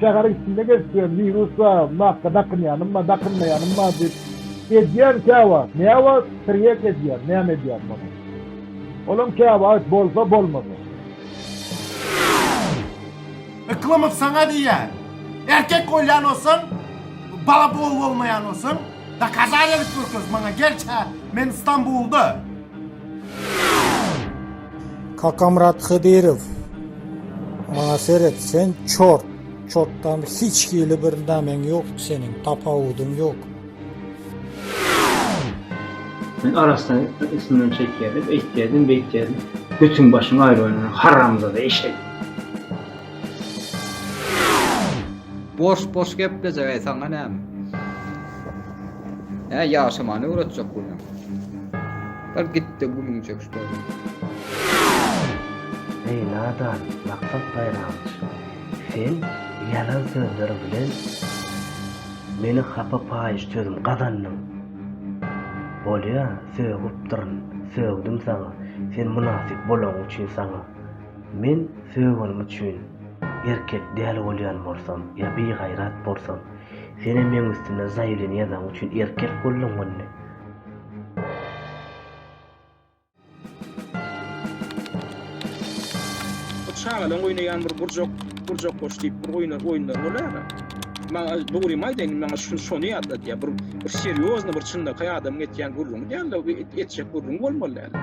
Şäheriň içinde gezip ýören wirus bar, maska dakynýanym bar, dakynmaýanym bar diýip edýän käwagt, näwagt tirýek edýän, näme edýän muny? Olaň käwagt bolsa bolmaz ol. Yklymow saňa diýýän, erkek bolýan bolsaň, bala bol bolmaýan bolsaň, dokazaniýa edip görkez maňa, gel çä, men Stambulda. Kakamyrat Hydyrow, maňa seret, sen çort, çortdan hiç hili bir nämeň ýok seniň, tapawudyň ýok. Men arassa üstümden çekýärdim, eýtýärdim, beýtýärdim. Götüň başyň aýrybaýdan, haramzada eşek. Boş boş geplejek eý saňa näme. Hä ýaşamany öwretjek bu. Bar gitde gülüň çekiş bolmaz. Eý nadan maksat baýramyç sen ýalan sözler bilen meni hapa paýyş sözüm gazandyň bolýa sögüpdirn sögdüm saňa sen mynasyp bolaň üçin saňa men sögenim üçin erkek däl bolýan bolsam ýa bigaýrat bolsam senem meň üstümden zaýewleniýa zaň üçin erkek boldyň indi. Çagalaryň oýnaýan bir gurjak, gurjak goş diýip bir oýna, oýunlar bolýar. Maňa dogrymy aýdaýyn, maňa şu şony ýatladýar. Bir, bir serýozny, bir çynlakaý adamyň etýän gürrüňi däl-de, bir et, etjek gürrüň bolmaly däl.